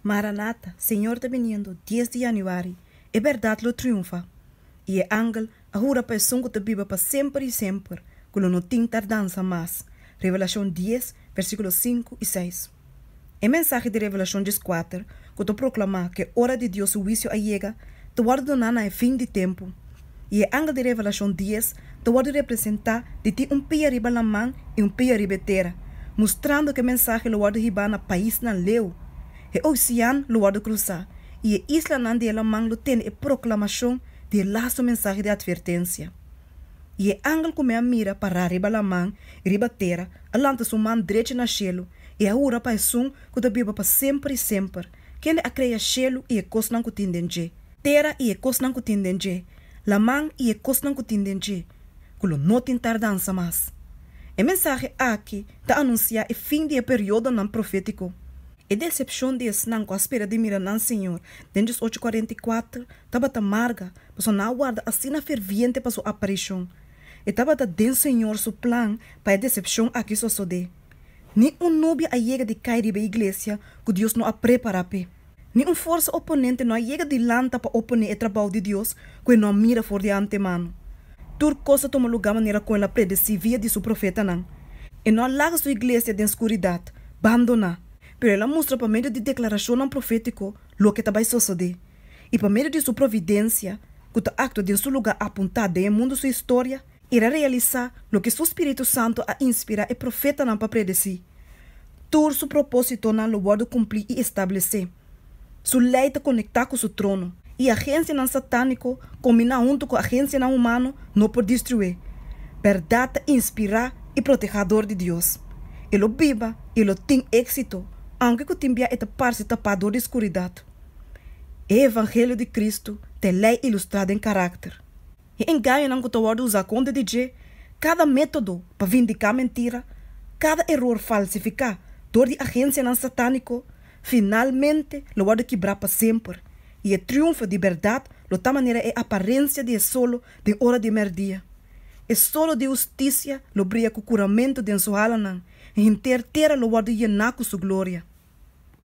Maranata, Señor ta biniendo, dies di Januari, E berdad lo triunfa! I e angel a hura pa esun ku ta biba pa semper i semper ku lo no tin tardansa mas, Revelashon dies, versíkulo sinku i seis. E mensahe di Revelashon dies kuater, ku ta proklamá ku e ora di Dios su huisio a yega, ta wòrdu doná na e fin di tempu. i e angel di Revelashon dies ta wòrdu representá di tin un pia riba laman i un pia riba e tera, mustrando ku e mensahe lo wòrdu hibá na paisnan leu. E ousean lo wòrdu krusá, i e islanan di e laman lo tene e proklamashon di e lastu mensahe di atvertensia. I e angel ku mi a mira pará riba laman i riba tera a lanta su man drechi na shelu i a hura pa Esun ku ta biba pa semper i semper, kende a krea shelu i e kosnan ku tin den dje, Tera i e kosnan ku tin den dje, laman i e kosnan ku tin den dje, ku lo no tin tardansa mas. E mensahe aki ta anunsiá e fin di e periodonan profétiko. E desepshon di esnan ku a spera di mira nan Señor den dje ocho kuarenta i kuater tabata marga, pasobra nan a warda asina ferviente pa su aparishon. E tabata den Señor su plan pa e desepshon aki sosodé. Ni un nubia a yega di kai riba e iglesia ku Dios no a prepará p'e. Ni un forsa oponente no a yega di lanta pa oponé e trabou di Dios ku e no a mira for di antemano. Tur kos ta tuma lugá manera ku El a predesí via di Su profetanan. E no a laga Su iglesia den skuridat, bandoná, pero El a mustra pa medio di deklarashonnan profétiko loke ta bai sosodé. I pa medio di Su providensia, ku ta aktua den Su lugá apuntá den e mundu Su historia, I el a realisá loke su spiritu santu a inspirá e profetanan pa predesí. Tur su propósitonan lo wòrdu kumplí i establesé. Su lei ta konektá ku su trono, i agensianan satániko kombiná huntu ku agensianan humano no por destrué. Bèrdat ta inspirá i protehá dor di Dios. E lo biba i e lo tin éksito, aunke ku tin bia e ta parse tapá dor di skuridat. E evangelio di Kristu ta e lei ilustrá den karakter. e engañonan ku ta wòrdu usá kontra di dje, kada método pa vindiká mentira, kada eror falsifiká dor di agensianan satániko, finalmente lo wòrdu kibrá pa semper, i e triunfo di bèrdat lo ta manera e aparensia di e solo den ora di mèrdia. E solo di hustisia lo bria ku kuramentu den su halanan, i henter tera lo wòrdu yená ku su gloria.